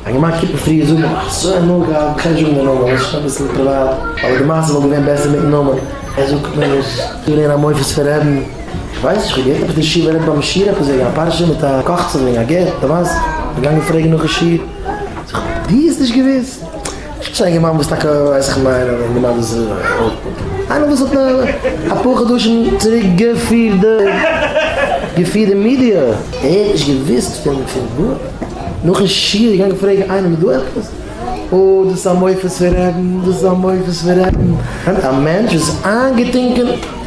א גמח קומט מיר פריער זאגן איך האב אזוי הנאה געהאט בכלל נישט וועגן די נאמען עס איז שוין אביסל פריוואט אבער די מעשה וואלט געווען בעסער מיטן נאמען ער זאגט מיר עס איז געווען א מופת פון רעדן איך ווייס נישט איך האב געהערט עפעס די שיעור ער רעדט ביים שיעור עפעס וועגן א פרשה מיט א קאכצעך וועגן א גט די ווייסט איך בין געגאנגען פרעגן נאך די שיעור זיך אויב די האסט נישט געוואוסט. איך צייג אים אן וואס טאקע ווייס איך מיין אז די מעמד איז איינער וואס האט אפאר חדשים צוריק געפירט די געפירט די מידיע ער האט נישט געוויסט פון פון גארנישט נאכן שיעור געגאנגען פרעגן איינעם איז דא עפעס אוי דאס איז א מופת פון רעדן דאס איז א מופת פון רעדן א מענטש וואס איז איינגעטינקען.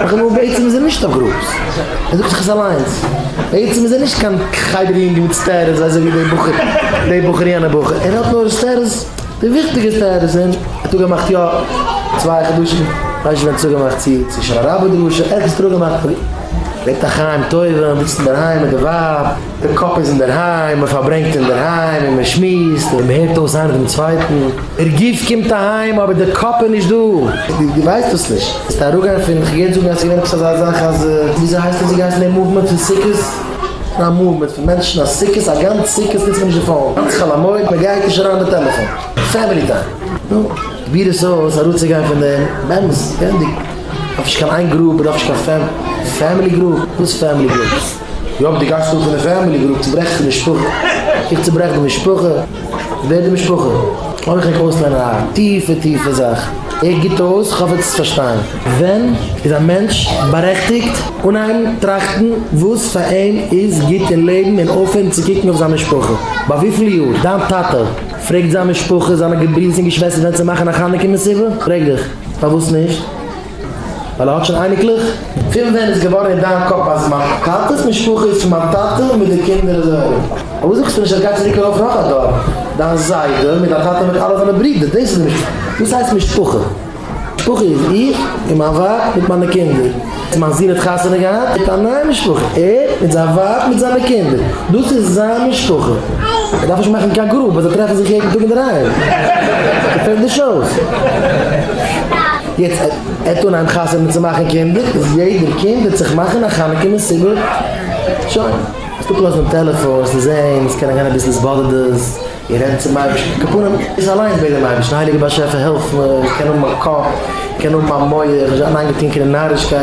איך האב מורא בעצם איז ער נישט אויף גראפס ער זאגט זיך עס אליינס בעצם איז ער נישט קיין חדר יונגל מיט סטערס אזוי ווי די בחור די בחור יענע בחור ער האט נאר סטערס די וויכטיגע סטערס און צוגעמאכט יא צוויי חדשים ווייס נישט ווען צוגעמאכט צו צו שנה רבה דרשה ערגעץ טאג געמאכט ווערט א חיים טובים זיצט אינדערהיים מיט די ווייב. די קאפ איז אינדערהיים, מען פארברענגט אינדערהיים און מען שמועסט און מען הערט אויס איינער דעם צווייטן. דער גוף קומט אהיים אבער דער קאפ איז נישט דא. דו ווייסט דאס נישט. וועסטו אראפגיין פון, איך גיי יעצט זאגן אז ס'געווען עפעס אזא זאך אז, וויאזוי הייסט עס געהייסן די מאוומענט פון סוכות? ס'איז א מאוומענט פון מענטשן אז סוכות, א גאנץ סוכות נוצט מען נישט די פאון, גאנץ חול המועד, מען גייט נישט אריין מיט טעלעפאן, פעמילי טיים. נו, פרוביר עס אויס אראפצוגיין פון דעם, באמת, געווענדיג, דארף נישט קיין איין גרופ, מען דארף נישט קיין פעמילי גרופ, וואס פעמילי גרופ? יאפ די גייסט אן פון די פעמילי גרופ צוברעכסט די משפחה, איך צוברעך די משפחה, ווער די משפחה? אויך איך אויסלערנען א טיפע טיפע זאך, איך גוט אויס איך האף עטס פארשטיין. ווען איז א מענטש בארעכטיגט אנהייבן טראכטן וואס פאר אים איז גוט אין לעבן און אויפהערן צו קוקן אויף זיין משפחה? ביי וויפיל יאר דיין טאטע פרעגט זיין משפחה, זיינע געברידערס און געשוועסטער ווען צו מאכן א חנוכה מסיבה? פרעג דיך, פארוואס נישט? ווייל ער האט שוין אייניקלעך? פון ווען איז געווארן אין דיין קאפ אז מיין טאטעס משפחה איז פון מיין טאטע מיט די קינדער אזוי ארום? פארוואס זאגסטו נישט אז גייט צוריק ארויף נאך א דור, דיין זיידע מיט דיין טאטע מיט אלע זיינע ברידער, דאס איז די משפחה. וואס הייסט משפחה? משפחה איז איך און מיין ווייב מיט מיינע קינדער. און מיין זון האט חתונה געהאט מיט א נייע משפחה, ער מיט זיין ווייב מיט זיינע קינדער, דאס איז זיין משפחה. ער דארף נישט מאכן קיין גרופ וואס זיי טרעפן זיך יעדן טאג אינדערהיים. ס'פעלט נישט אויס. יעצט ער'ט אנהייבן חתונה צו מאכן קינדער איז יעדער קינד וועט זיך מאכן א חנוכה מסיבה, שוין, קענסט אפלאזן דעם טעלעפאן, עס איז ענג, עס קען אריין אביסל התבודדות, און רעדן צום אייבערשטן, כפרה איך אליינס בעט דעם אייבערשטן, הייליגער באשעפער העלף מיר, איך קען האבן א קאפ, איך קען האבן א מח, נישט זיין איינגעטינקען אין נארישקייט,